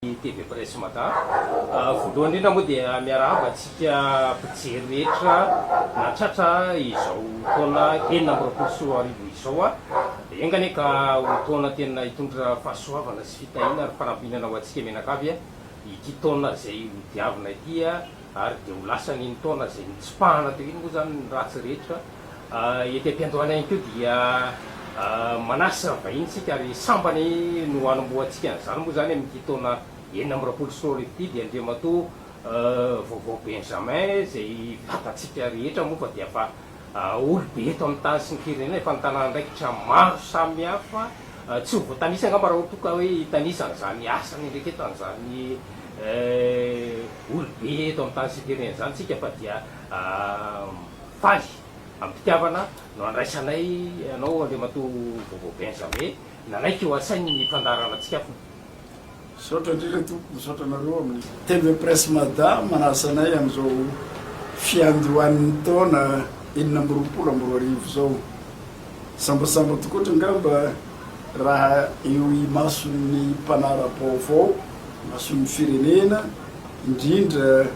TV Presse Mada. Voalohany indrindra moa dia miarahaba antsika mpijery rehetra nahatratra izao taona enina amby roapolo sy roa arivo izao. Enga anie ka ho taona tena hitondra fahasoavana sy fitahiana ary fanampihinana ho antsika mianakavy ity taona izay hodiavina ity. Ary dia ho lasany iny taona izay nitsipahana teo iny moa izany ny ratsy rehetra. Ety am-piandohana ihany koa dia manasa vahiny isika ary sambany no hanombohantsika an'izany moa izany amin'ity taona enina amby roapolo sy roa arivo ity dia Andriamatoa Vaovao Benjamin izay vatantsika rehetra moa fa dia fa Olobe eto amin'ny tany sy ny firenena efa nitana andraikitra maro samihafa, tsy ho voatanisa angamba raha toa ka hoe hitanisa an'izany asa niandraiketan'izany olobe eto amin'ny tany sy ny firenena izany isika fa dia faly am-pitiavana no andraisanay anao Andriamatoa Bobo Benjamin nanaiky ho asainy ny fandaharanantsika afona. Misaotra indrindra tompoko, misaotra anareo amin'ny. TV Presse Mada manasa anay amin'izao fiandohan'ny taona enina amby roapolo amby roa arivo izao. Sambasamba tokoa ohatry angamba raha eo imason'ny mpanara-baovao, imason'ny firenena, indrindra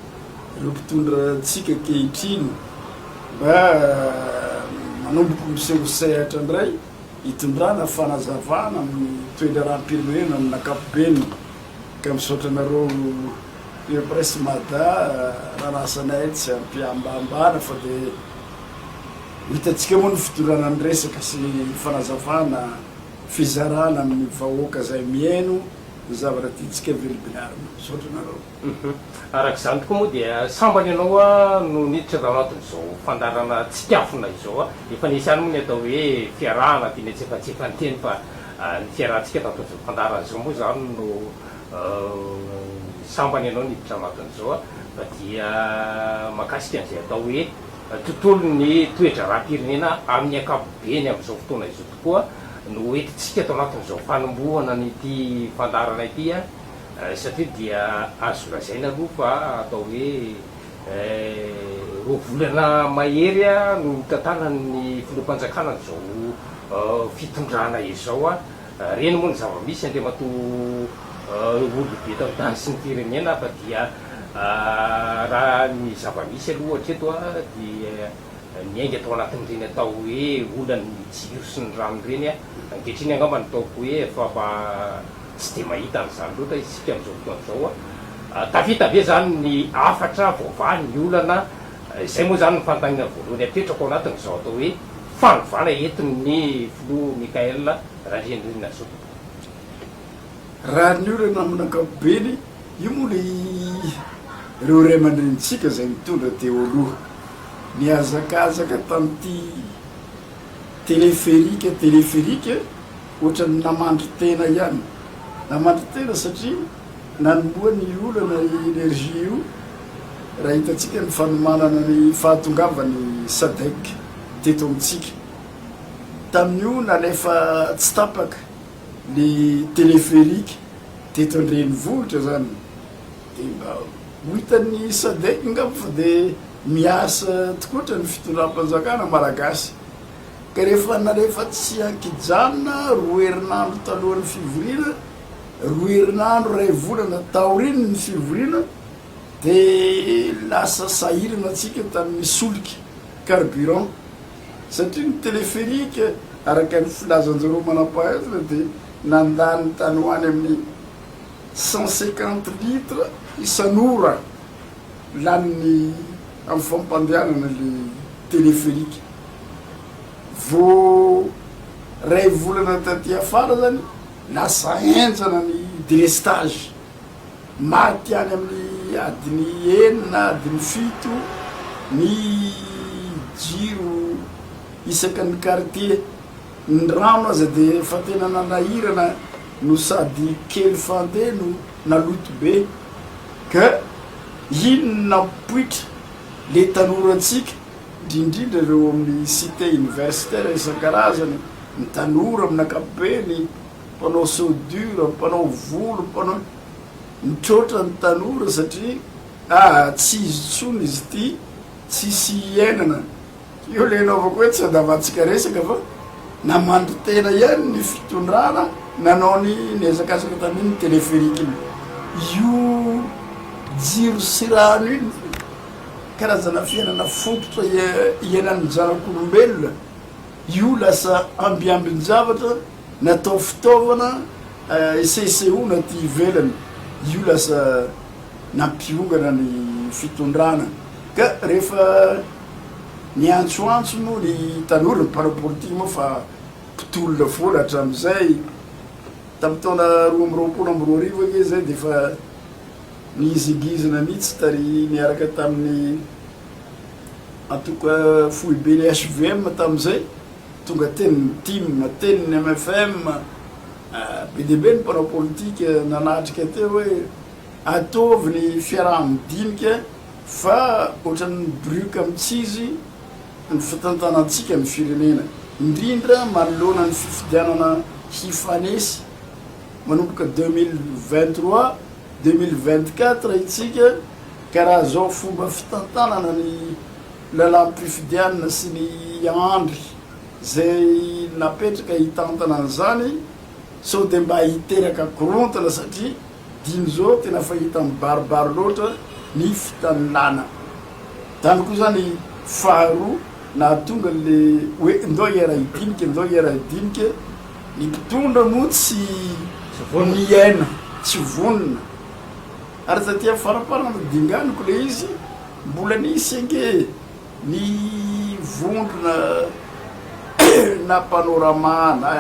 ireo mpitondra antsika ankehitriny mba manomboka miseho sehatra indray. hitondrana fanazavana amin'ny toe-draharaham-pirenena amin'ny ankapobeny ka misaotra anareo Eo Presse Mada raha nasanay tsy am-pihambahambana fa dia hitantsika moa ny fitondrana ny resaka sy ny fanazavana fizarana amin'ny vahoaka izay mihaino ny zavatra tiantsika vilibilary. Misaotra anareo. Araka izany tokoa moa dia sambany ianao no niditra tao anatin'izao fandaharana tsikafona izao. Efa nisy ihany moa ny atao hoe fiarahana dia nihetsefatsefany teny fa ny fiarahantsika tamin'izao fandaharana izao moa izany no sambany ianao niditra anatin'izao fa dia mahakasika an'izay atao hoe tontolon'ny toe-draharaham-pirenena amin'ny ankapobeny amin'izao fotoana izao tokoa no hoentintsika tao anatin'izao fanombohana an'ity fandaharana ity. satria dia azo lazaina aloha fa atao hoe roa volana mahery no nitantanan'ny filoham-panjakana an'izao fitondrana izao. Reny moa ny zava-misy, Andriamatoa Olobe tao-tany sy ny firenena fa dia raha ny zava-misy aloha hatreto dia miainga tao anatin'ireny atao hoe olan'ny jiro sy ny rano ireny ankehitriny angamba ny ataoko hoe famba Tsy dia mahita an'izany loatra isika amin'izao fotoana izao. Tafita ve izany ny hafatra voavaha ny olana? Izay moa izany ny fanontaniana voalohany apetrako ao anatin'izao atao hoe fanovana entin'ny filoha Michaël Randrianirina-Zokibe. Rariny io ireo namana ankapobeny, io moa ilay ireo ray aman-drenintsika izay nitondra teo aloha. Nihazakazaka tamin'ity téléphérique, téléphérique, Ohatran'ny namandry tena ihany. Namandry tena satria nanomboha ny olana i Energy io raha hitantsika ny fanomanana ny fahatongavan'ny Sadec teto amintsika. Tamin'io nalefa tsy tapaka ny téléphérique teto an-drenivohitra izany dia mba ho hitan'ny Sadec angamba fa dia miasa tokoa ohatran'ny fitondram-panjakana malagasy. ka rehefa nalefa tsy an-kijanona roa herinandro talohan'ny fivoriana, roa herinandro iray volana taorian'ny fivoriana, dia lasa sahirana tsika tamin'ny solika, carburant, satria ny téléphérique, araka ny filazan'izareo manampahaizina, dia nandany tany ho any amin'ny cent cinquante litres isan'ora lanin'ny. Amin'ny fampandehanana ilay téléphérique. Vao iray volana taty afara izany, lasa henjana ny délestage. Maty any amin'ny adiny enina, adiny fito ny jiro isaky ny quartier. Ny rano aza dia efa tena nanahirana no sady kely fandeha no naloto be ka iny no nampoitra le tanorantsika ndrindrindra ireo amin'ny cité universitaire isan-karazany, ny tanora amin'ny ankapobeny, mpanao soudure, mpanao volo, mpanao. Mitroatra ny tanora satria ah tsy izy intsony izy ity tsisy iainana. Io ilay anaovako hoe tsy andavantsika resaka fa namangy tena ihany ny fitondrana nanao ny nihazakazaka tamin' ny téléphérique iny. Io jiro sy rano iny dia karazana fiainana fototra iainany ny zanak' olombelona. Io lasa ambiambin-javatra natao fitaovana hisehosehoana aty ivelany. Io lasa nampiongana ny fitondrana ka rehefa Niantsoantso moa ny tanora ny mpanao politika moa fa mpitolona foana hatramin'izay. Tamin'ny taona roa amby roapolo amby roa arivo ange izay dia efa nihizingizina mihitsy tary niaraka tamin'ny antoko foiben'ny hvm tamin'izay. Tonga teny ny tim, teny ny mfm, be dia be ny mpanao politika nanatrika teo hoe ataovy ny fiaraha-midinika. Fa ohatran'ny mibrioka mitsizy ny fitantanantsika ny firenena, indrindra manoloana ny fifidianana hifanesy manomboka deux mille vingt trois, deux mille vingt quatre itsika ka raha zao fomba fitantanana ny lalam-pifidianana sy ny andry zay napetraka hitantana an'izany sao de mba hiteraka korontana satria Dino zao tena fahita mibaribary loatra ny fitanilana. Zany koa zany faharoa nahatonga le hoe ndao hiera hidinika ndao hiera hidinika. Ny mpitondra moa tsy miaina tsy vonona. Ary taty amin'ny faraparany dinganiko le izy mbola nisy ange ny vondrona na panorama na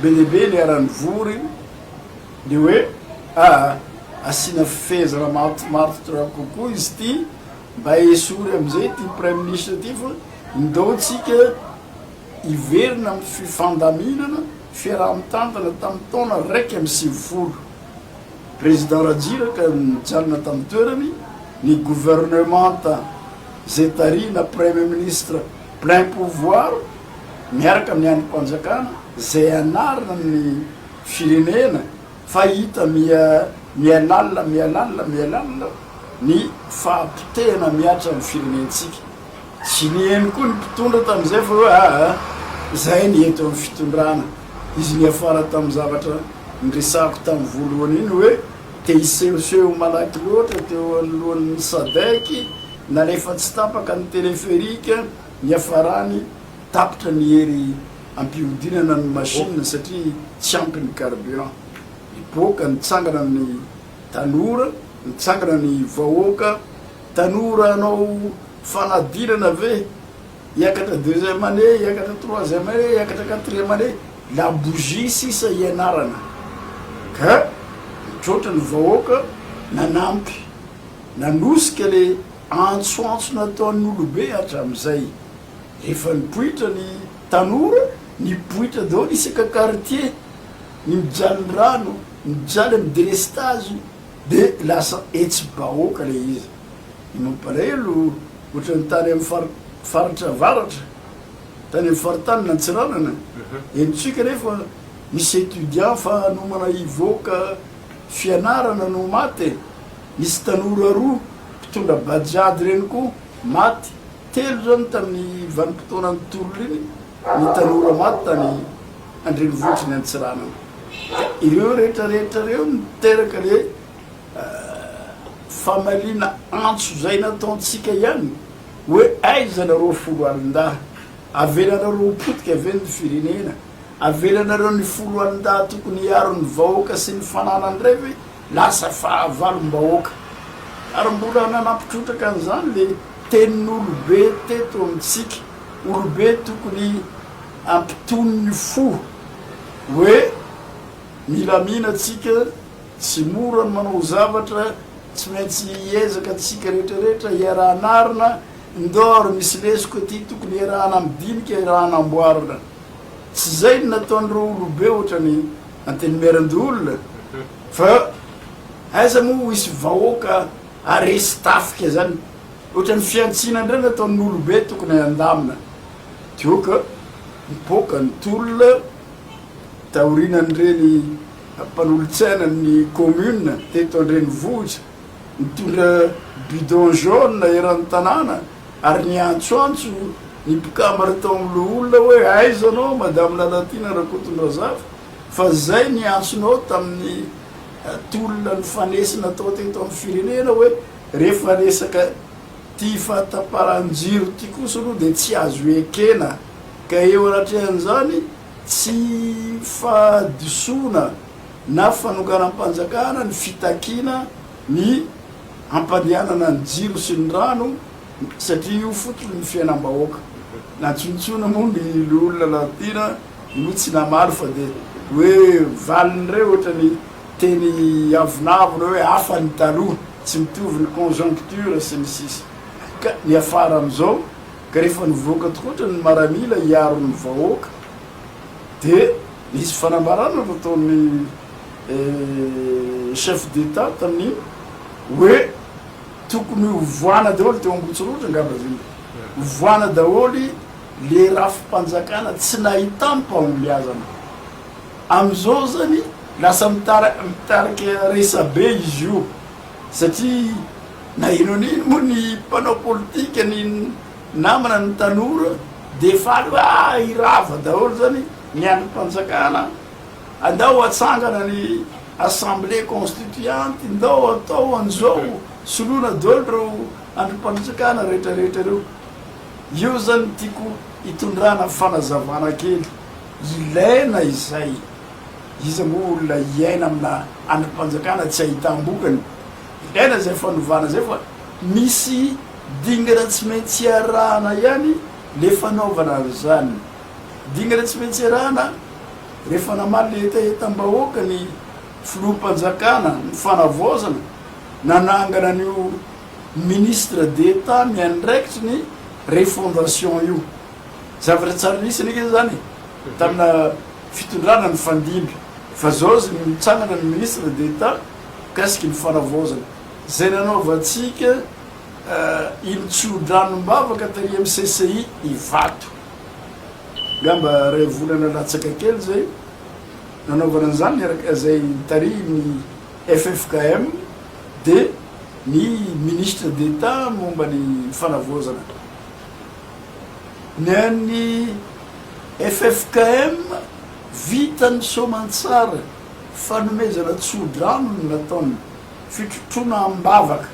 be dia be niara nivory. Ny hoe aa asiana fehezana matomatotra kokoa izy ity mba esory amin'izay ity praiminisitra ity fa ndao tsika hiverina amin'ny fifandaminana fiaraha-mitantana tamin'ny taona iraika amby sivifolo Président Ratsiraka nijanona tamin'ny toerany ny gouvernementa izay tarihina Premier Ministre plein pouvoir miaraka amin'ny andrim-panjakana izay anarina ny firenena fa hita miha mihalala mihalala mihalala ny fahapotehana mihatra ny firenentsika. Tsy niheno koa ny mpitondra tamin'izay fa hoe aa izay ny eto amin'ny fitondrana. Izy niafara tamin'ny zavatra niresahako tamin'ny voalohany iny hoe te hisehoseho malaky loatra teo anoloan'ny sadec nalefa tsy tapaka ny téléphérique niafarany tapitra ny hery Ampihodinana ny machine satria tsy ampy ny carburant. Mipoaka, mitsangana ny tanora, mitsangana ny vahoaka. Tanora hanao fanadinana ve? Hiakatra deuxième année, hiakatra troisième année, hiakatra quatrième année, la bougie sisa hianarana. Ka mitroatra ny vahoaka nanampy, nanosika le antsoantso nataon'olobe hatramin'izay. Efa nipoitra ny tanora, nipoitra daholo isaka quartier, ny mijaly ny rano, mijaly amin'ny délestage dia lasa hetsi-bahoaka ilay izy. Ny mampalahelo ohatran'ny tany amin'ny fari, faritra avaratra, tany amin'ny faritany antsiranana, henontsika anefa misy étudiants fa hanomana hivoaka fianarana no maty e, nisy tanora roa mpitondra bajaj ireny koa maty. Telo izany tamin'ny vanim-potoanan'ny tolona iny ny tanora maty tany an-drenivohitry ny Antsiranana. Ka ireo rehetra rehetra ireo no niteraka le famaliana antso izay nataontsika ihany hoe aiza nareo folo alin-dahy? Avelanareo ho potika ve ny firenena? Avelanareo ny folo alin-dahy tokony hiaro ny vahoaka sy ny fananany indray ve? Lasa fahavalom-bahoaka. Ary mbola nanampy trotraka an'izany ilay tenin'olobe teto amintsika, olobe tokony hampitony fo, hoe milamina tsika, tsy mora ny manao zavatra, tsy maintsy hiezaka tsika rehetrarehetra hiaraha-hanarina, ndao ary misy lesoka ity tokony hiaraha-hanamdinika, hiaraha-hanamboarina. Tsy izay no nataon'ireo olobe ohatran'ny. Antenimierandoholona fa aiza moa ho isy vahoaka aresy tafika zany otrany fiantsina ndray nataon olobe tokony andamina dioka mipoaka ny tolona taorinan reny mpanolotsaina ny commune teto andrenivohitra. Nitondra bidon jaune eran'ny tanàna ary niantsoantso ny mpikambana tao amin'ny loholona hoe aiza anao Madame Lalatiana Rakotondrazafy fa zay niantsonao tamin'ny tolona nifanesy natao teto amin'ny firenena hoe rehefa resaka ty fahatapahan-jiro ty kosa aloha dia tsy azo ekena ka eo anatrehan'izany tsy fahadisoana na fanokanam-panjakana ny fitakiana ny hampandehanana ny jiro sy ny rano satria io fototry ny fiainam-bahoaka. Nantsontsoina moa ny loholona Lantina no tsy namaly fa dia hoe valiny re ohatra ny teny avonavona hoe hafa ny taloha, tsy mitovy ny conjoncture sy ny sisa. Ka niafara amin'izao ka rehefa nivoaka tokoa ohatra ny maramila hiaro ny vahoaka. Dia nisy fanambarana nataon'ny chef d'Etat tamin'iny hoe tokony hovohana daholo, teo Ambohitsorohitra angamba izy iny, hovohana daholo ilay rafi-panjakana tsy nahitam-pahombiazana. Amin'izao izany lasa mitarika resabe izy io satria na inona na inona moa ny mpanao politika, ny. Namana ny tanora dia faly hoe ah hirava daholo zany ny andrim-panjakana andao atsangana ny assemblée constituante ndao atao anzao soloina daholo ireo andrim-panritsakana rehetra rehetra ireo io zany tiako hitondrana fanazavana kely ilaina izay iza moa olona hiaina amina andrim-panjakana tsy ahitam-bokany ilaina izay fanovana izay fa Misy dingana tsy maintsy iarahana ihany le fanaovana an'izany. Dingana tsy maintsy iarahana rehefa namaly le hetahetam-bahoaka ny filoham-panjakana ny fanavaozana nanangana an'io Ministre d'Etat miandraikitry ny refondation io. Zavatra tsara nisy anefa izany e, tamina fitondrana nifandimby fa zao izy no nitsangana ny Ministre d'Etat mikasiky ny fanavaozana. Izay nanaovantsika ilo tsodranom-bavaka tery amin'ny CCI Ivato. Angamba iray volana latsaka kely izay nanaovana an'izany niaraka izay tarihin'ny ffkm dia ny Ministre d'Etat momba ny fanavaozana ny an'ny ffkm vita ny soamantsara fanomezana tsodrano no nataony Fitrotroana am-bavaka.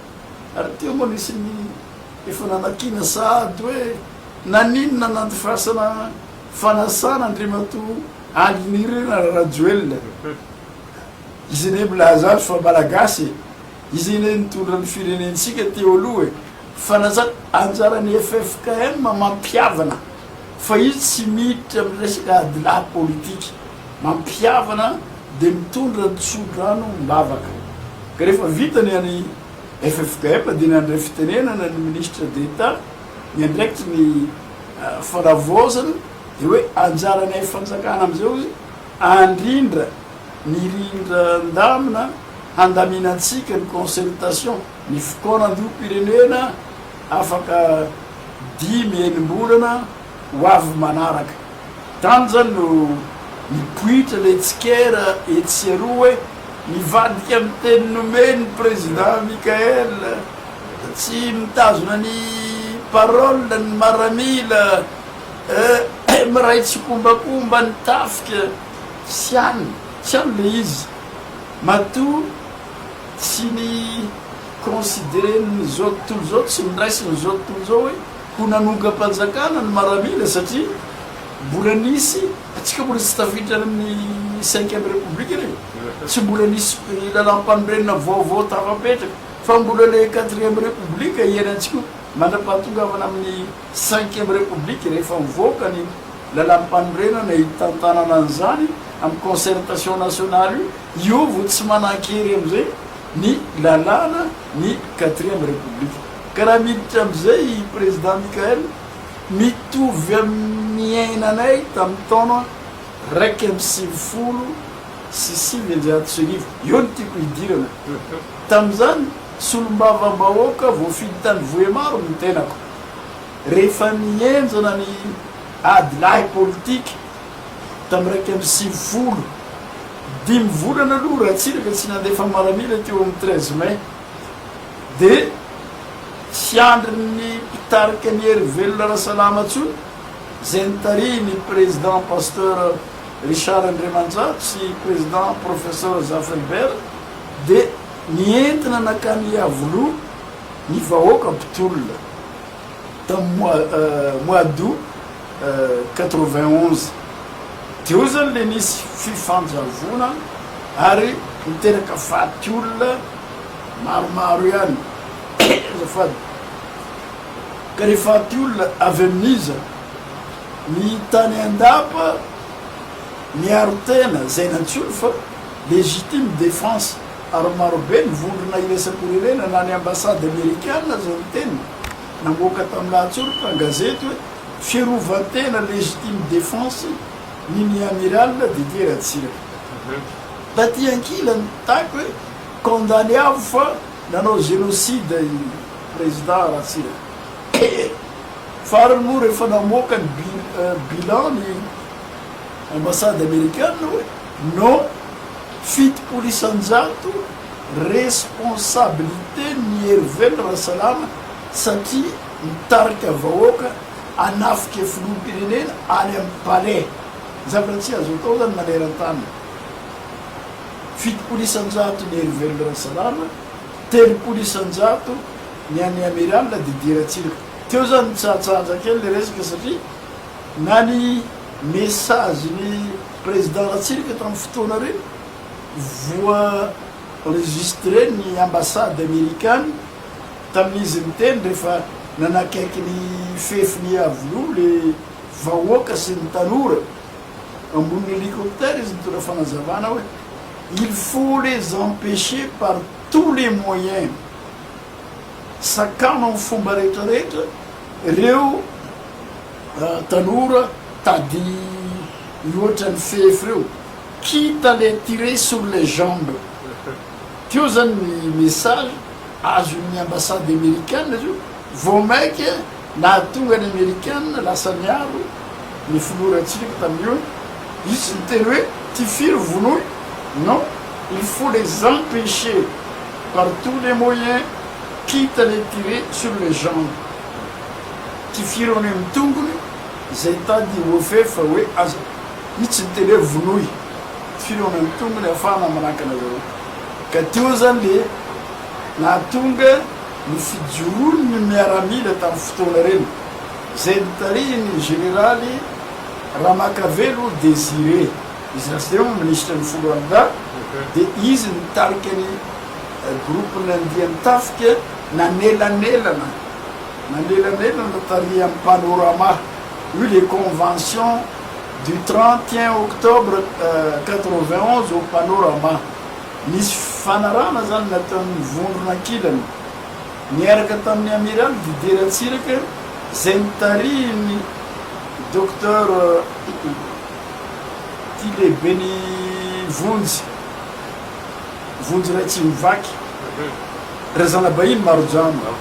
Ary teo moa nisy ny efa nanakiana sahady hoe naninona nandifasana fanasana Andriamatoa Andrinirina Rajoelina e! Izy indray milaza azy fa Malagasy e! Izy indray nitondra ny firenentsika teo aloha e! Fanajana, anjaran'ny ffkm mampihavana fa izy tsy miditra amin'ny resaka adilahy politika. mampihavana dia mitondra ny tsodrano am-bavaka. Ka rehefa vita ny an'ny FFKM dia nandray fitenenana ny Ministra d'Etat miandraikitry ny fanavaozana dia hoe anjaranay fanjakana amin'izao hoe andrindra ny rindran-damina handaminantsika ny consultation ny fikaonandoham-pirenena afaka dimy enimbolana ho avy manaraka. Tany izany no nipoitra ilay tsikera etsy sy eroa hoe mivadika amin'ny teny nomen'ny Président Michaël fa tsy mitazona ny parole ny maramila eh miray tsikombakomba ny tafika tsy any tsy any ilay izy matoa tsy ni consideren'ny zao tontolo izao tsy niraisin'izao tontolo izao hoe Ho nanongam-panjakana ny maramila satria mbola nisy, antsika mbola tsy tafiditra any amin'ny cinquième république anie e, tsy mbola nisy lalam-panorenana vaovao tafapetraka fa mbola ilay quatrième république iainantsika io mandra-pahatongavana amin'ny cinquième république rehefa mivoaka ny lalam-panorenana hitantanana an'izany amin'ny concertation nationale io, io vao tsy manan-kery amin'izay ny lalàna ny quatrième république. Ka raha miditra amin'izay i Président Mickaël, mitovy amin'ny niainanay tamin'ny taona iraika amby sivifolo sy sivinjato sy arivo. Eo no tiako hidirana. Tamin'izany, solombavambahoaka voafidy tany Vohémar ny tenako. Rehefa nihenjana ny ady lahy politika tamin'ny iraika amby sivifolo, dimy volana aloha Ratsiraka tsy nandefa miaramila teo amin'ny treize mai. dia tsy andrin'ny mpitarika ny Hery Velona Rasalama intsony izay notarihin'ny Président Pasteur Richard Andriamanjato sy Président Professor Zaferbert dia nientina nankany Iavoloha ny vahoaka mpitolona. tamin'ny mois mois d'aout quatre-vingt onze teo zany le nisy fifanjavona ary niteraka faty olona maromaro ihany azafady ka le faty olona avy amin'iza ny tany andapa miaro tena zay nantsoiny fa legitime defense ary marobe ny vondrona iraisam-pirenena na ny ambasady amerikana aza niteny namoaka tamin'ny lahatsoritra an-gazety hoe fiarovan-tena légitime défense ny ny Amiral Didier Ratsiraka. Taty ankilany taiko hoe condamné avo fa nanao génocide i président Ratsiraka. Fa ary moa rehefa namoaka ny bilan ny ambasady amerikana hoe. No fitopolo isan-jato responsabilité n'i Herively Rasalama satria mitarika vahoaka hanafika filoham-pirenena any amin'ny palais. Zavatra tsy azo atao izany maneran-tany. Fitopolo isan-jato n'i Herively Rasalama, telopolo isan-jato ny an'ny Amiral Didier Ratsiraka. Teo izany nitsahatsahaja kely ilay resaka satria na ny message-n'i. Président Ratsiraka tamin'ny fotoana reny voa-enregistré ny ambassade amerikana tamin'izy niteny rehefa nanakaiky ny fefiny iavoloha le vahoaka sy ny tanora ambony hélicoptère izy nitondra fanazavana hoe il faut les empêcher par tous les moyens sakana amin'ny fomba rehetra rehetra reo Tanora tady loatra ny fefy reo quitte à les tirer sur les jambes teo zany ny message azon'ny ambassade amerikana zio vao maika nahatonga ny amerikana lasa niaro ny filoha Ratsiraka tamin'io izy tsy niteny hoe ty firy vonoy non il faut les empecher par tous les moyens quitte à les tirer sur les jambes. Tifiro any amin'ny tongony izay hitady i Ofer fa hoe aza hitsy ny teny hoe vonoy. Tifiro any amin'ny tongony ahafahana manakana zareo. Ka teo izany le nahatonga ny fijoroan'ny miaramila tamin'ny fotoana ireny izay notarihin'ny Jeneraly Ramakavelo Désiré. Izy lasa eo minisitra ny folo alina dahy dia izy no nitarika ny groupe nandian-tafika nanelanelana. Manelanelana tarihan'ny Panorama io le convention du trente et un octobre quatre-vingt onze au Panorama. Nisy fifanarahana zany nataon'ny vondrona ankilany niaraka tamin'ny Amiraly Didier Ratsiraka izay notarihin'ny Docteur ity lehiben'ny vonjy. Vonjy iray tsy mivaky. Ry zana-bahiny maro jamba,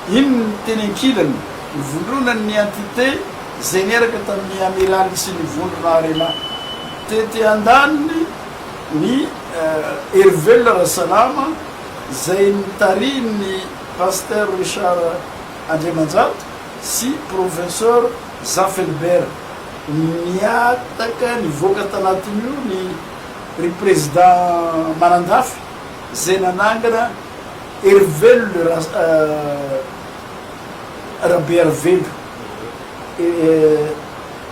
iny ny teny ankilany, nivondronan'ny entité izay niaraka tamin'ny Amiraly sy ny vondrona Arena. Tety andaniny, ny Herivelona Rasalama, izay notarihin'ny Pasteur Richard Andriamanjato sy Professeur Zafelbert. Nihataka nivoaka tanatin'io ny. ry prezida manandafy zay nanangana Herivelona ra Rabearivelo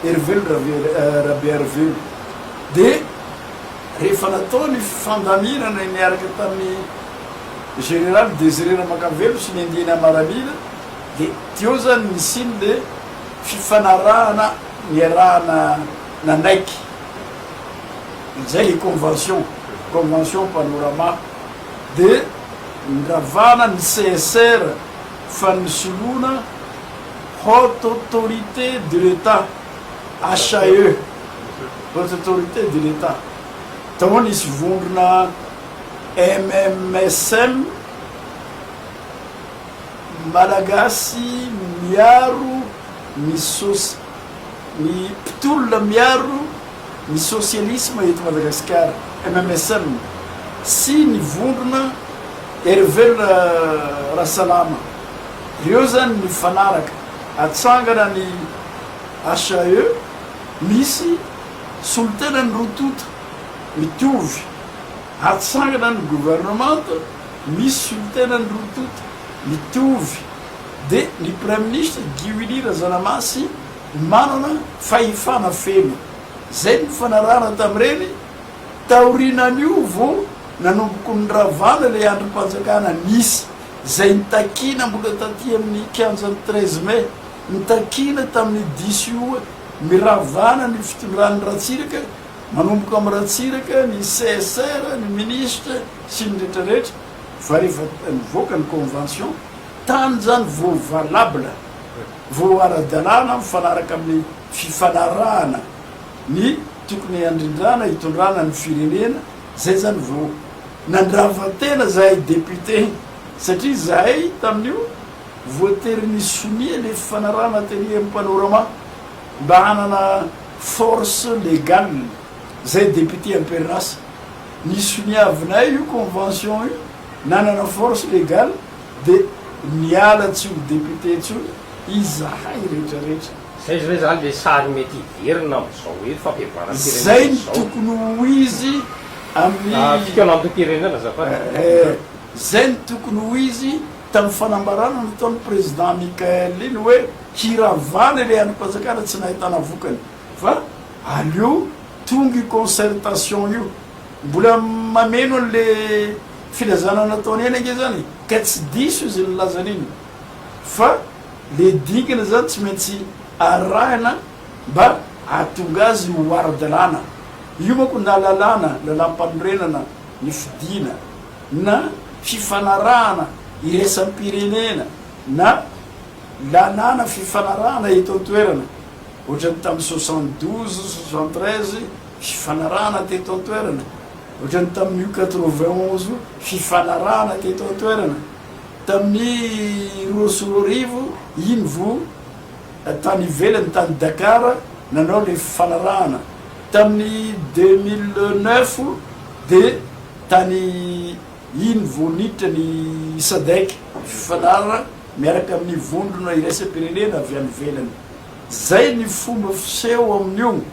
Herivelona ra Rabearivelo de rehefa natao ny fifandaminana niaraka tamin'ny Général Désiré Ramakavelo sy ny andiany Amaramila de teo zany nisian'le fifanarahana niarahana nanaiky izay le convention, convention panorama de nravana ny CSR fa ny solona Haute Autorité de l'Etat, HAE, Haute Autorité de l'Etat, tao nisy vondrona MMSM, Malagasy miaro ny sosy. Ny mpitolona miaro ny sosialisma eto Madagasikara, MMSM, sy ny vondrona Hery Velona Rasalama, ireo izany nifanaraka hatsangana ny HAE, misy solontenan'ny roa tonta mitovy, hatsangana ny governemanta, misy solontenan'ny roa tonta mitovy. dia ny Praiminisitra Guy Willy Razanamasy manana fahefana feno. Izay no nifanarahana tamin'ireny, taorianan'io vao nanomboky niravana ilay andrim-panjakana nisy izay nitakiana mbola taty amin'ny kianjan'ny treize mai, nitakiana tamin'ny diso io hoe miravana ny fitondran'i Ratsiraka, manomboka amin'i Ratsiraka, ny CSR, ny Minisitra sy ny rehetrarehetra. fa rehefa nivoaka ny convention tany izany vao valable, vao ara-dalàna mifanaraka amin'ny fifanarahana ny tokony handrindrana hitondrana ny firenena, izay izany vao nandrava tena izahay député satria izahay tamin'io voatery nisonia ilay fifanarahana teny amin'ny panorama mba hanana force légale. zay député amperrasa nisoniavinay io convention io nanana force légale de niala tsy ho député intsony izahay rehetra rehetra. Zay zao zany le sary mety hiverina amzao eto fampivoaram pirenena izao. Zay no tokony ho izy amin'ny. Fikaolantom pirenena azafady ee. Zay no tokony ho izy tam fanambarana nataony président Michaël iny hoe hiravana ilay andrim panjakana tsy nahitana vokany. Fa aleo tonga io concertation io. Mbola mameno anle filazana nataony eny ange zany e. Ka tsy diso izy nilaza an'iny. Fa le dingana zany tsy maintsy arahina mba ahatonga azy ho ara-dalàna. Io manko na lalàna, lalàmpanorenana ny fidiana, na fifanarahana iraisam-pirenena, na lalàna fifanarahana eto an-toerana ohatran'ny tamin'ny soixante douze, soixante treize, fifanarahana teto an-toerana, ohatran'ny tamin'io quatre vingt onze, fifanarahana teto an-toerana, tamin'ny roa sy roa arivo, iny vo tany ivelany, tany Dakar, nanao ilay fifanarahana, tamin'ny deux mille neuf, dia tany, iny vo niditra ny Sadec, fifanarahana miaraka amin'ny vondrona iraisam-pirenena avy any ivelany. Zay ny fomba fiseho amin'io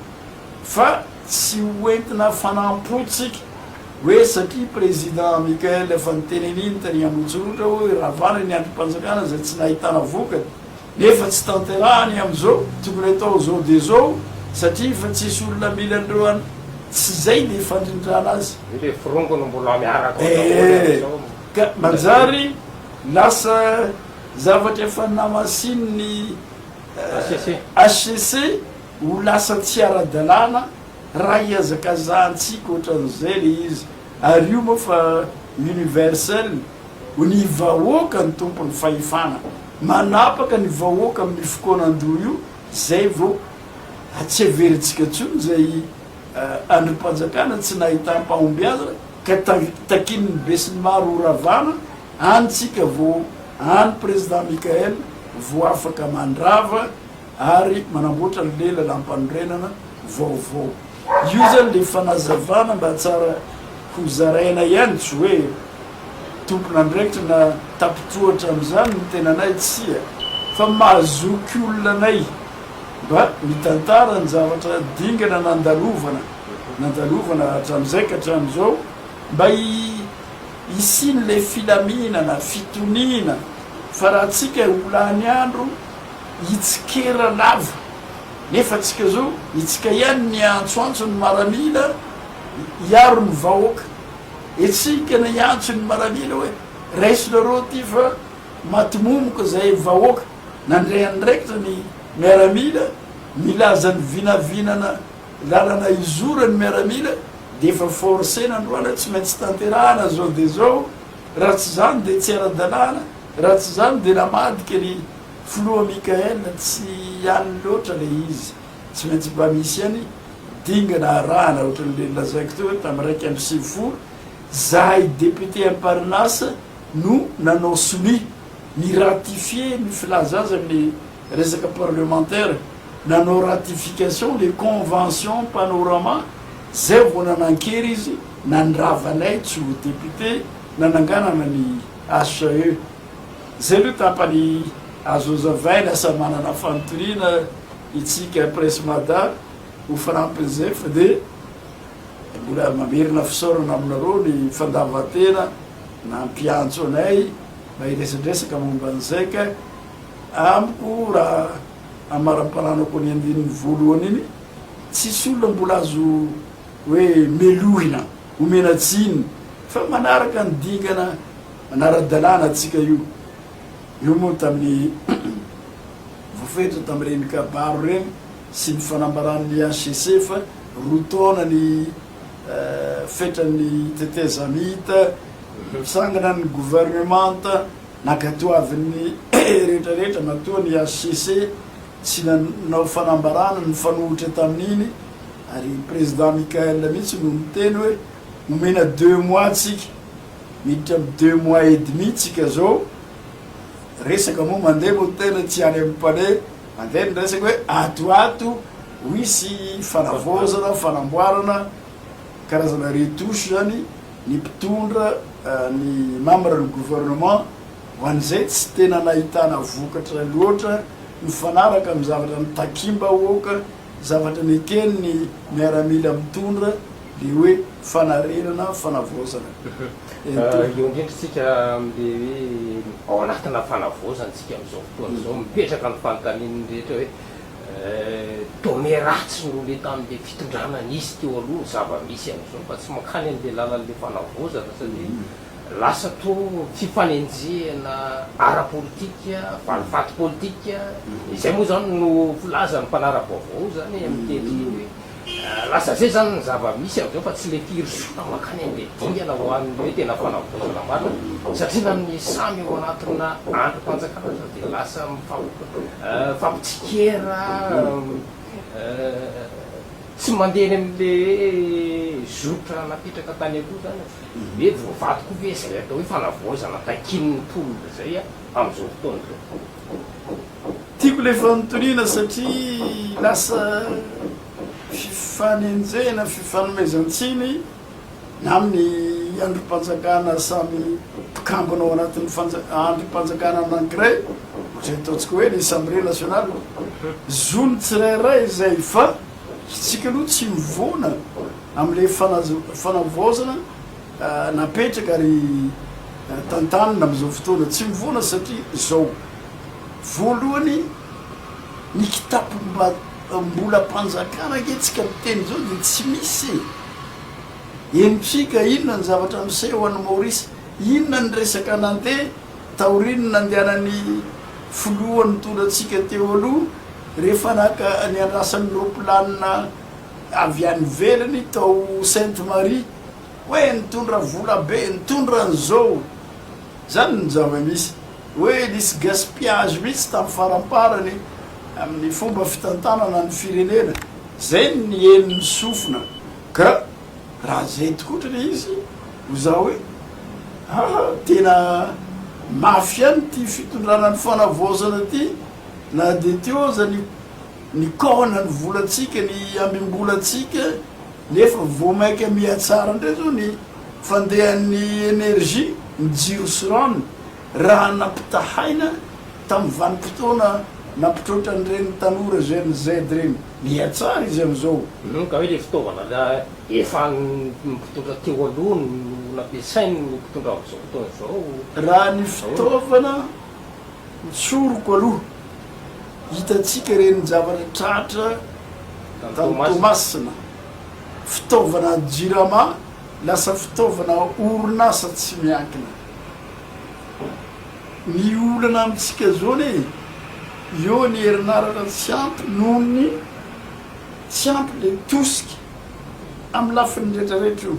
fa tsy ho entina fanampo tsika hoe satria président Michael efa niteneniny tany amontsoritra hoe ravana ny andrimpanjakana zay tsy nahitana vokany nefa tsy tanterahany amzao tokony atao zao de zao satria efa tsisy olona mila an'ireo an tsy zay le fandrindrana azy. Io le firongo no mbola miaraka ao daholo amzao. Ka manjary lasa Zavatra efa namasinin'ny hcc ho lasa tsy ara-dalàna raha ihazakazahantsika ohatran'izay ilay izy. Ary io moa fa universel ho ny vahoaka no tompon'ny fahefana. Manapaka ny vahoaka amin'ny fikoanan-doha io izay vao atsiheverintsika intsony izay andrim-panjakana tsy nahitam-pahombiazana ka takian'ny besinimaro ho ravàna Any tsika vo any Président Mickaël vo afaka mandrava ary manamboatra anle lalampanorenana vaovao. Io zany le fanazavana mba tsara ho zaraina ihany tsy hoe tompon'andraikitra na tapitohatra amzany ny tenanay tsia fa mahazoky olona anay mba mitantara ny zavatra dingana nandalovana nandalovana hatramzay ka hatramzao mba Hisian'ilay filaminana, fitoniana, fa raha antsika ho lany andro hitsikera lava, nefa antsika zao itsika ihany niantsoantso ny maramila hiaro ny vahoaka, itsika niantso ny maramila hoe raisinareo ity fa matimomoka izay vahoaka, nandray andraikitra ny miaramila milaza ny vinavinana Lalana izoran'ny miaramila dia efa force nandroana tsy maintsy tanterahana zao dia zao raha tsy zany dia tsy ara-dalàna raha tsy zany dia namadika ry filoha Mickaël tsy any loatra le izy tsy maintsy mba misy any dingana arahana ohatran'le nolazaiko teo hoe tam iraika amby sivifolo zahay député am Parnasse no nanao sonia ni ratifier ny filaza azy amin'ny Resaka parlemantera, nanao ratification le convention panorama, zay vao nanan-kery izy nandrava anay tsy ho député, nananganana ny HCE. Zay aloha tapany azo hazavaina, lasa manana fanontaniana itsika Presse Mada ho fanampin'izay fa dia mbola mamerina fisaorana aminareo ny fandavan-tena nampiantso anay mba hiresadresaka momba an'izay ka. Amiko raha amaramparanako ny andininy voalohany iny, tsisy olona mbola azo hoe melohina, omena tsiny fa manaraka ny dingana anara-dalàna antsika io. Io moa tamin'ny voafetra tamin'ireny kabary ireny sy ny fanambaran'ny HCC fa roa taona ny fetran'ny tetezamita, mitsangana ny governemanta Nankatoavin'ny rehetra rehetra matoa ny HCC tsy nanao fanambarana nifanohitra tamin'iny ary i Président Michaël mihitsy no niteny hoe omena deux mois tsika, miditra amin'ny deux mois et demi tsika zao, resaka moa mandeha moa ny tena tsy any amin'ny palais, mandeha ny resaka hoe ato ato ho hisy fanavaozana, fanamboarana, karazana retouche zany. ny mpitondra, ny membres ny gouvernement ho an'izay tsy tena nahitana vokatra loatra mifanaraka amin'ny zavatra notakiam-bahoaka, zavatra neken'ny miaramila mitondra, ilay hoe fanarenana, fanavaozana. Ento. Eo indrindra isika amin'ilay hoe ao anatina fanavaozana isika amin'izao fotoana izao, mipetraka ny fanontanian'ny rehetra hoe Eh, donnée ratsy no le tamin'le fitondrana nisy teo aloha ny zava-misy amin'izao fa tsy mankany an'le lalan'le fanavaozana satria lasa toa fifanenjehana ara-politika, valifaty politika, izay moa zany no filazan'ny mpanara-baovao zany eh, miteny hoe Lasa izay izany ny zava-misy amin'izao fa tsy mety hirosoana mankany amin'ilay dingana ho an'ny hoe tena fanavaozana marina satria na ny samy ao anatina andrim-panjakana aza dia lasa mifampitsikera tsy mandeha eny amin'ilay zotra napetraka tany aloha izany an! Hoe voavaty koa ve izay atao hoe fanavaozana takian'ny mponina izay amin'izao fotoana izao? Tiako ilay fanontaniana satria lasa fifanenjehana, fifanomezan-tsiny na amin'ny andrim-panjakana samy mpikambana ao anatin'ny andrim-panjakana anankiray, ohatran'ny ataontsika hoe ny Assemblée nationale. Zon'ny tsirairay izay fa isika aloha tsy mivoana amin'ilay fanavaozana. Napetraka ary tantanina amin'izao fotoana tsy mivoana satria izao, voalohany ny kitapom-bolam-panjakana ange tsika miteny izao dia tsy misy e! Henontsika inona ny zavatra miseho any Maorisy, inona ny resaka nandeha taorian'ny nandehanan'ny filoha nitondra antsika teo aloha rehefa naka niandrasany roplanina avy any ivelany tao Sainte Marie. hoe nitondra vola be, nitondra an'izao, izany no zava-misy, hoe nisy gaspillage mihitsy tamin'ny faramparany amin'ny fomba fitantanana ny firenena, izay no nien'ny sofina, ka raha izay tokoa ohatra ilay izy, ho za hoe aa tena mafy ihany ity fitondrana ny fanavaozana ity, na dia teo aza ny nikaohana ny volantsika, ny ambim-bolantsika, Nefa vao maika mihatsara indray izao ny fandehan'ny energie, ny jiro sy rano, raha nampitahaina tamin'ny vanim-potoana nampitroatra an'ireny tanora Gen Z ireny. Mihatsara izy amin'izao. Hum ka hoe ilay fitaovana efa an'ny mpitondra teo aloha no nampiasain'ny mpitondra amin'izao fotoana izao? Raha ny fitaovana. Ny tsoroko aloha, hitantsika ireny zavatra tratra tany Toamasina, fitaovana jirama lasa fitaovana orinasa tsy miankina. Ny olana amintsika zao anie eo ny herinaratra tsy ampy noho ny tsy ampy le tosika amin'ny lafiny retraretra io.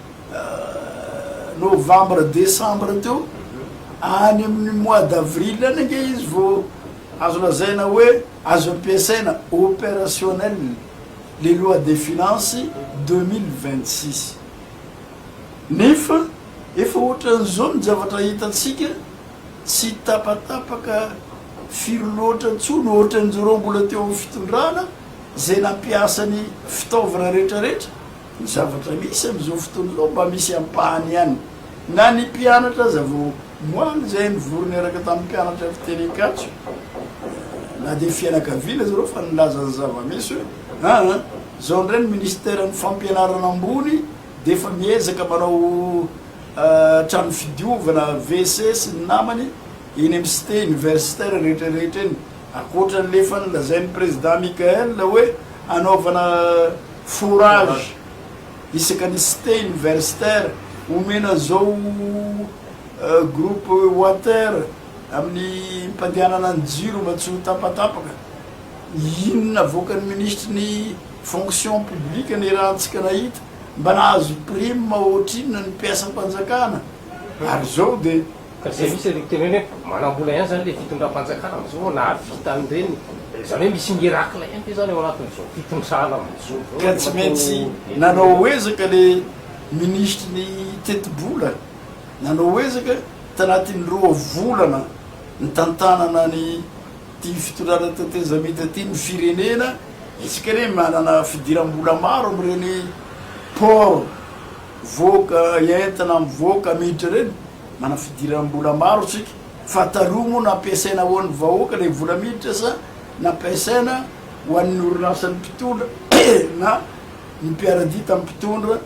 novambra desambra teo, any amin'ny mois d'avril any ange izy vao azo lazaina hoe azo ampiasaina, opérationnel, le loi des finances deux mille vingt six. Nefa efa ohatran'izao ny zavatra hitantsika, tsy tapatapaka firy loatra intsony, ohatran'izareo mbola teo amin'ny fitondrana, izay nampiasa ny fitaovana rehetrarehetra Ny zavatra misy amin'izao fotoana izao mba misy ampahany ihany. Na ny mpianatra aza vao omaly izay nivory niaraka tamin'ny mpianatra fiteny Ankatso, na dia fianakaviana zareo fa nilaza ny zava-misy hoe aa izao indray ny minisiteran'ny fampianarana ambony dia efa miezaka manao trano fidiovana WC sy ny namany eny amin'ny cité universitaire rehetra rehetra eny ankoatran'ilay efa nolazain'ny prezida Mickaël hoe hanaovana Fourage isaka ny cité universitaire omena an'izao groupe water amin'ny mpandehanana ny jiro mba tsy ho tapatapaka. Inona avoakan'ny minisitry ny fonction publique ny erantsika nahita? Mba nahazo prime ohatrinona ny mpiasam-panjakana? Ary izao dia. Ka izay misy ilay fitenenana hoe manam-bola ihany izany ilay fitondram-panjakana amin'izao nahavita an'ireny. Izany hoe misy miracle ihany ve izany ao anatin'izao fitondrana amin'izao izao? Ka tsy maintsy nanao ezaka ilay minisitry ny tetibola, nanao ezaka tanatin'ny roa volana nitantanana an'ity fitondrana tetezamita ity ny firenena. Isika anie manana fidiram-bola maro amin'ireny port mivoaka entana mivoaka miditra ireny. Manana fidiram-bola maro isika fa taroa moa nampiasaina ho an'ny vahoaka ilay vola miditra sa nampiasaina ho an'ny orinasan'ny mpitondra na ny mpiara-dia tamin'ny mpitondra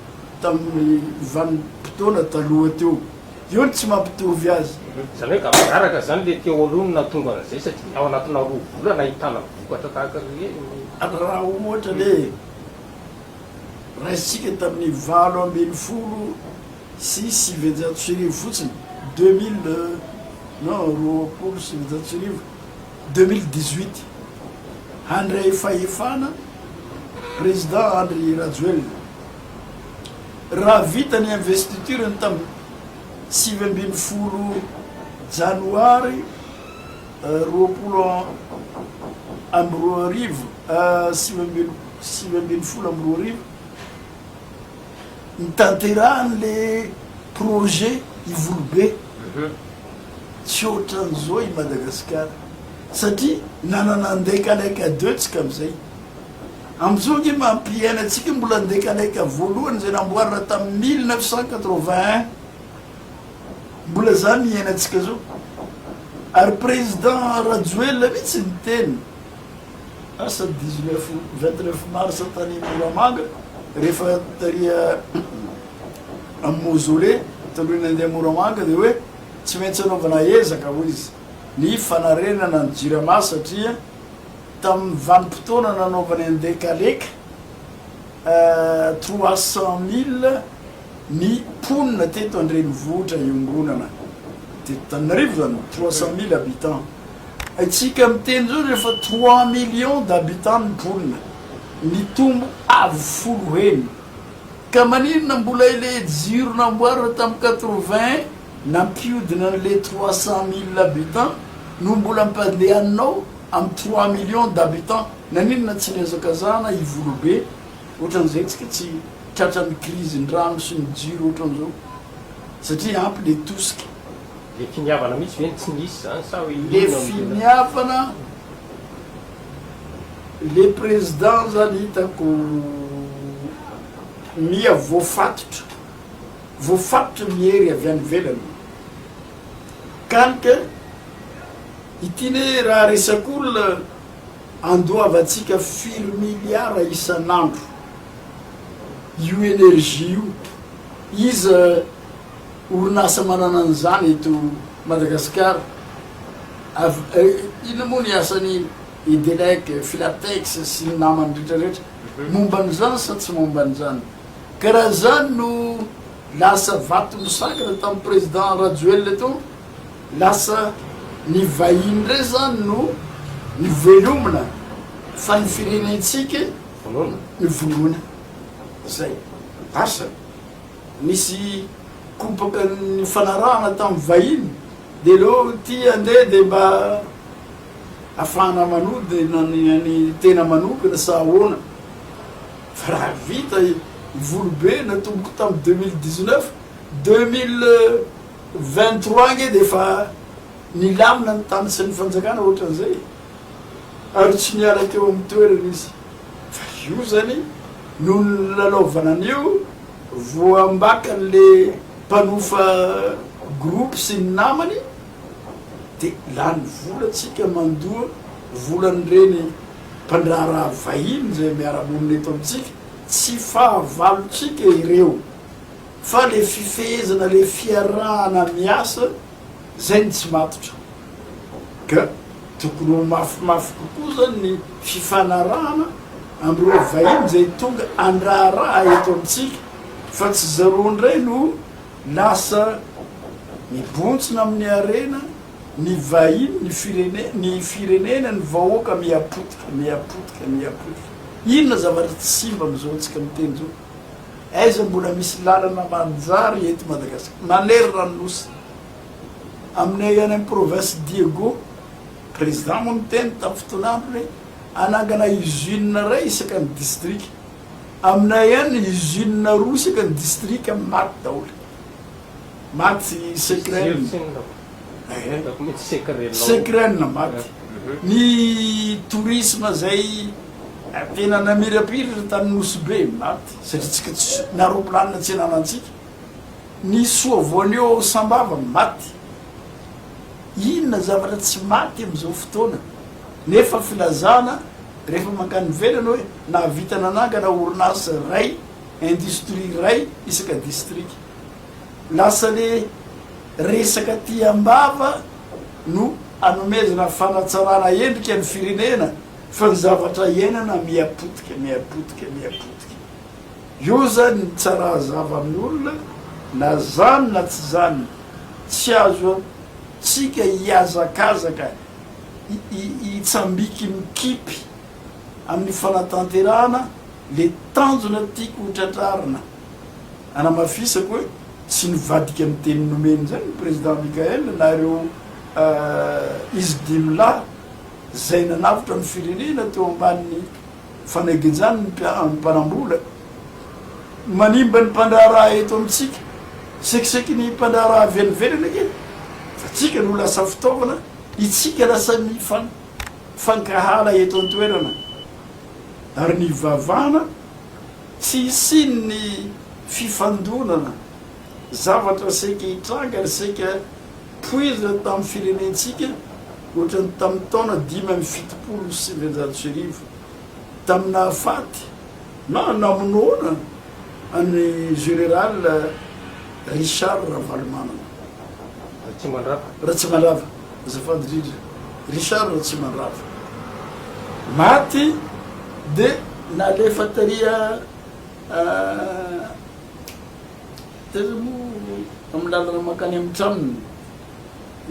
tamin'ny vanim-potoana taloha teo. Io no tsy mampitovy azy. Izany hoe gaboraraka izany ilay teôriony nahatonga an'izay satria ao anatina roa volana ahitana vokatra tahaka ireny. Raha ohatra ilay raisintsika tamin'ny valo ambin'ny folo sy sivinjato sy arivo fotsiny, deux mille, non, roapolo sy sivinjato sy arivo, deux mille dix-huit, handray fahefana Président Andry Rajoelina. Raha vita ny investiture-ny tamin'ny sivy ambin'ny folo Janoary roapolo amby roa arivo, sivy ambin'ny folo amby roa arivo, Hitanterahany le projet Ivolobe tsy otran'izao i Madagasikara satria nanana Andekalaika deux tsika amizay. Amin'izao ange mampiaina antsika io mbola Andekalaika voalohany izay namboarina tamin'ny mille neuf cent quatre-vingt-un mbola zany iainantsika zao ary Président Rajoelina mihitsy niteny. lasa dix neuf vingt neuf mars tany Moramanga rehefa tary amin'ny mausolée talohan'ny handeha Moramanga dia hoe tsy maintsy anaovana ezaka hoy izy ny fanarenana ny Jirama satria tamin'ny vanim-potoana nanaovany an-dekaleka trois cent mille Ny mponina teto an-drenivohitra iombonana teto Tananarivo zany trois cent mille habitants haintsika miteny zao rehefa trois millions d'habitants ny mponina nitombo avo folo heny ka maninona mbola ile jiro namboarina tam quatre vingt nampiodina anle trois cent mille habitants no mbola ampandehananao am trois millions d'habitants naninona tsy nihazakazahana ivolobe Ohatran'izay tsika tsy tratran'ny krizin'ny rano sy ny jiro ohatran'izao satria ampy le tosika. Le finiavana mihitsy ve no tsy nisy zany sa hoe inona no tena. Le finiavana, le président zany hitako miha voafatotra, voafatotra ny hery avy any ivelany. Kaly ka ity ne raha resak'olona. Andoavantsika firy miliara isan'andro io energie io? Iza orinasa manana an'izany eto Madagasikara? Inona moa ny asan'i Edelec, Filatex sy ny namany rehetra rehetra? Momba an'izany sa tsy momba an'izany? Ka raha izany no lasa vato misakana tamin'ny Président Rajoelina teo Lasa ny vahiny indray izany no nivelomina fa ny firenentsika no vonoina. Izay. Asa, nisy kopaka nifanarahana tamin'ny vahiny dia aleo ity handeha dia mba hahafahana manodina ny an'ny tena manokana sa ahoana? Fa raha vita ny volobe natomboko tamin'ny deux mille dix-neuf, deux mille Vingt trois ange dia efa nilamina ny tany sy ny fanjakana ohatran'izay e! ary tsy niala teo amin'ny toerany izy fa io izany noho ny nilalaovana an'io voambakan'ilay mpanofa groupe sy ny namany dia lany vola tsika mandoa volan'ireny mpandraharaha vahiny izay miara-monina eto amintsika, tsy fahavalontsika ireo. Fa le fifehezana le fiarahana miasa zay no tsy matotra ka tokony ho mafimafy kokoa zany ny fifanarahana amreo vahiny zay tonga andraharaha eto amitsika fa tsy zareo ndray no lasa mibontsina aminy harena ny vahiny ny firenena ny firenena ny vahoaka mihapotika mihapotika mihapotika inona zavatra tsy simba amizao tsika miteny zao. Aiza mbola misy lalana manjary eto Madagascar manerana ny nosy aminay any am province Diego president moa niteny tam fotoana andro hoe anangana usine ray isaka ny district aminay any usine roa isaka ny district maty daholo Maty Sekren. Sekren maty. Ny tourisme zay tena namirapiratra tany Nosy Be maty satria tsika tsy na roplanina tsy ananantsika. Ny soa voanio ao Sambava maty. Inona zavatra tsy maty amizao fotoana nefa filazana rehefa mankany ivelany hoe nahavita nanangana orinasa ray, industrie ray isaka distrika. Lasa le resaka aty ambava no anomezana fanatsarana endrika ny firenena fa ny zavatra iainana miha potika miha potika miha potika eo zany ny tsara azava amin'ny olona na zany na tsy zany tsy azo tsika hiazakazaka hitsambiki mikipy amin'ny fanatanterahana le tanjona tiako ho tratrarina. Hanamafisako hoe tsy nivadika ny teny nomeny izay ny Président Michaël na ireo izy dimy lahy izay nanavotra ny firenena teo ambanin'ny fanaginjany ny mpanambola manimba ny mpandraharaha eto amintsika. Sekiseky ny mpandraharaha avy any ivelany ange fa tsika no lasa fitaovana, itsika lasa mifankahala eto an-toerana ary nivavahana. Tsy hisian'ny fifandonana, zavatra saika hitranga ary saika poizina tamin'ny firenentsika ohatran'ny tamin'ny taona dimy amby fitopolo sy sivinjato sy arivo, tamin'ny nahafaty na namonoana an'i General Richard Ravalomanana. Ratsimandrava. Ratsimandrava. Azafady indrindra Richard Ratsimandrava maty de nalefa tary a taiza moa amin'ny lalana mankany amin'ny tranony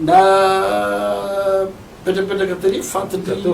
napetrapetraka tary fatin-dry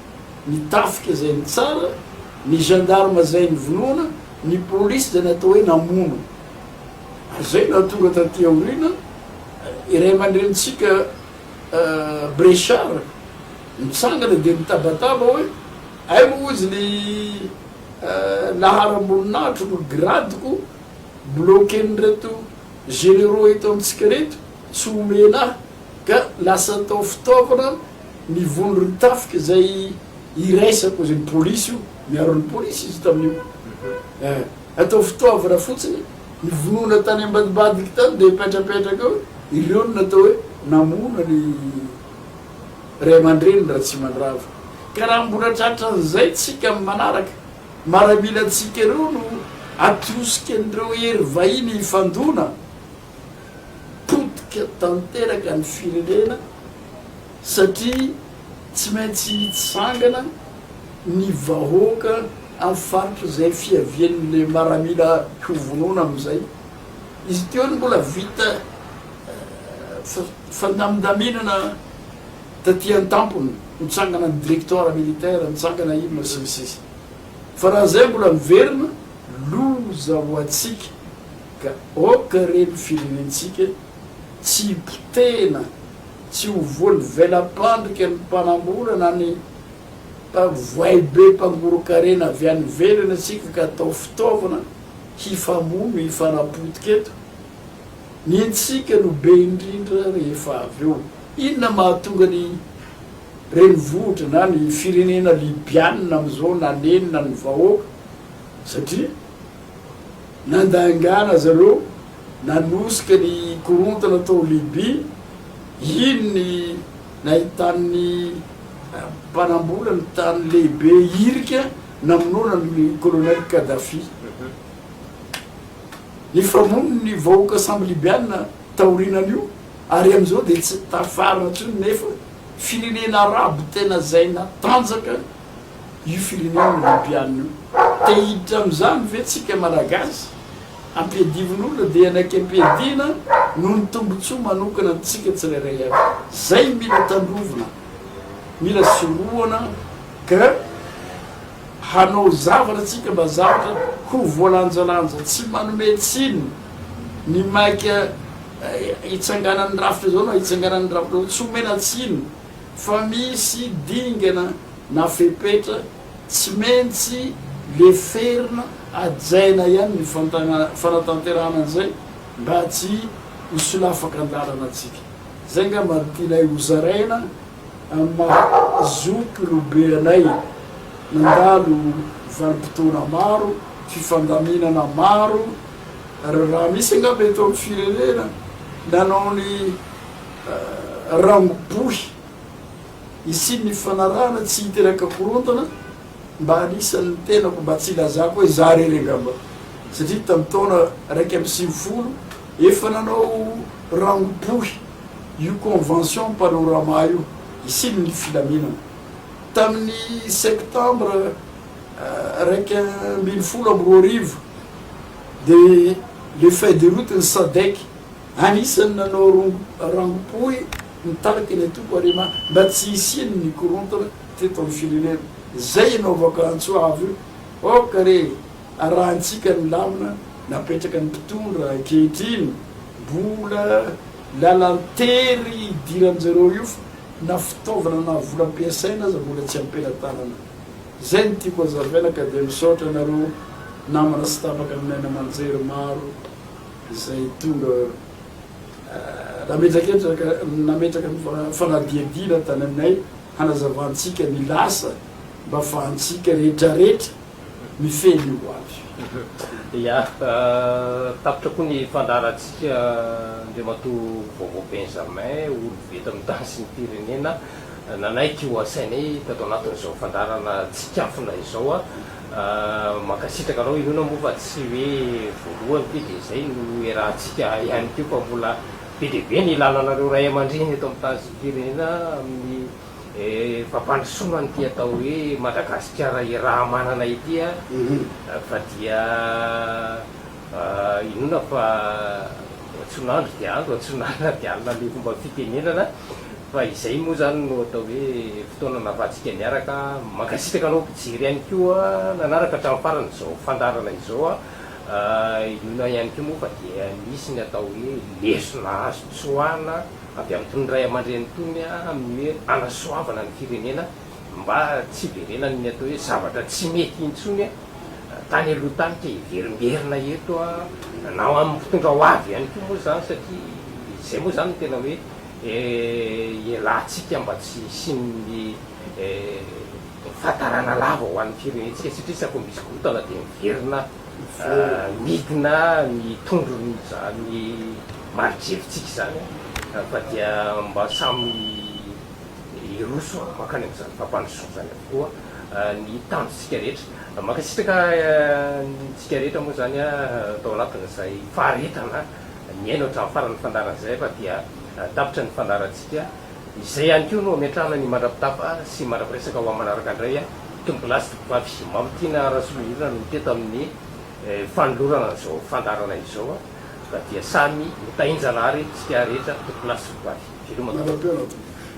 ny tafika zay nitsara, ny gendarme zay nivonoana, ny police zay natao hoe namono. Ary zay nahatonga taty aoriana i ray aman-drenintsika Brechard nitsangana dia nitabataba hoe hay moa hozy ny laharam-boninahitro no grade-ko bloquer-n'ireto généraux eto amintsika reto, tsy omena ahy ka lasa atao fitaovana, Ny vono ry tafika izay iraisako izay ny polisy io miaro ny polisy izy tamin'io eh atao fitoavana fotsiny ny vonoana tany ambadimbadika tany dia petrapetraka eo ireo no natao hoe namono ny ray aman-dreniny Ratsimandrava ka raha mbola tratran'izay tsika amin'ny manaraka maramilantsika ireo no atosika an'ireo hery vahiny hifandona potika tanteraka ny firenena satria tsy maintsy hitsangana ny vahoaka amin'ny faritra izay fiavian'ilay maramila hovonoina amin'izay. Izy ity hono mbola vita fandamindaminana taty an-tampony, nitsangana ny directoire militaire, nitsangana inona sy ny sisa. Fa raha izay mbola miverina, loza ho antsika. Ka aoka re ny firenentsika tsy hipotehina, tsy ho voan'ny vela-pandrika ny mpanambola na ny mpavoay be mpangoron-karena avy any ivelany antsika ka atao fitaovana hifamono, hifanapotika eto. Ny antsika no be indrindra rehefa avy eo. Inona mahatonga ny renivohitra na ny firenena Libyana amin'izao nanenina ny vahoaka? Satria. Nandangana azy ireo, nanosika ny korontana tao Libya, iny ny nahitan'ny mpanambola ny tany lehibe hirika namonoana ny Kolonely Kadhafi. Nifamono ny vahoaka sambo Libyana taorianan'io, ary amin'izao dia tsy tafarina intsony nefa firenena Arabo tena izay natanjaka io firenena olympiana io. Te hiditra amin'izany ve tsika Malagasy? Ampiadivin'olona dia hanaiky ampiadiana noho ny tombotsoa manokana antsika tsirairay avy. Zay mila tandrovina, mila sorohana ka hanao zavatra tsika mba zavatra ho voalanjalanja, tsy manome tsiny ny maika hitsanganan'ny rafitra zao na hitsanganan'ny rafitra zao, tsy omena tsiny. fa misy dingana na fepetra tsy maintsy leferina hajaina ihany ny fanatanterahana an'izay mba tsy hisolafaka an-dalana antsika. Izay angamba no tianay hozaraina amin'ny maha zokolobe anay nandalo vanim-potoana maro, fifandaminana maro, raha misy angamba eto amin'ny firenena nanao ny. raha mibohy hisian'ny fanarahana tsy hiteraka korontana mba anisan'ny tenako mba tsy hilazako hoe za rery angamba satria tamin'ny taona raika amby sivifolo efa nanao raha mibohy io convention panorama io hisian'ny filaminana tamin'ny septembre raika ambin'ny folo amby roa arivo dia le feuille de route ny sadec Anisan'ny nanao rangom-po hoe mitarika ilay toko ary mba tsy hisian ny korontana teto amin'ny firenena. Izay ianao Vakantsoa avo io. Ok re e! Arahantsika ny lamina napetraka ny mpitondra ankehitriny. Mbola lalan-tery hidiran-jareo io fa na fitaovana na vola ampiasaina aza mbola tsy am-pelatanana. Izay no tiako hazavaina ka dia misaotra anareo namana sy tapaka ny naina aman-jery maro. izay tonga nametraketraka nametraka ny fanadihadiana tany aminay hanazavantsika ny lasa mba afahantsika rehetrarehetra mifehy ny ho avy. Ia, tapitra koa ny fandaharantsika Andriamatoa Vaovao Benjamin, olom-be eto amin'ny tany sy ny firenena, nanaiky ho asainay tato anatin'izao fandaharana tsinkafona izao. Mankasitraka anao Inoana moa fa tsy hoe voalohany ity dia izay no iarahantsika ihany koa fa mbola be dia be ny ilalanareo ray aman-dreny eto amin'ny tany sy ny firenena amin'ny fampandrosoana an'ity atao hoe Madagasikara iraha-manana ity fa dia inoana fa antsoin'andro dia andro, antsoin'alina dia alina ilay fomba fitenenana. Fa izay moa izany no atao hoe fotoana nahafahantsika niaraka. Mankasitraka anao mpijery ihany koa nanaraka hatramin'ny farany izao fandaharana izao an! Inoana ihany koa moa fa dia nisy ny atao hoe lesona azo tsoahina avy amin'itony ray aman-dreny itony amin'ny hoe hanasoavana ny firenena mba tsy hiverenan'ny atao hoe zavatra tsy mety intsony tany aloha tany ka hiverimberina eto na amin'ny mpitondra ho avy ihany koa moa izany satria izay moa izany no tena hoe Eh, ialahintsika mba tsy hisian'ny eh, fahatarana lava ho an'ny firenentsika satria isaky ny misy korontana dia miverina eh, midina ny tondron'izany mari-drevintsika izany eh, fa dia mba samy hiroso mankany amin'izany fampandrosoana izany avokoa eh, ny tanjontsika rehetra. Mankasitraka eh, antsika rehetra moa izany eh, tao anatin'izay faharetana. Nihaino hatramin'ny farany ny fandaharan'izay aho fa dia tapitra ny fandaharantsika. Izay ihany koa no hametrahana ny mandra-pitapa sy mandra-piresaka ho amin'ny manaraka indray. Tombola sy tompivavy Mamy Tiana Rasolonirina no teto amin'ny fanolorana an'izao fandaharana izao ka dia samy ho tahin-janahary isika rehetra tombola sy tompivavy. Veloma Tato.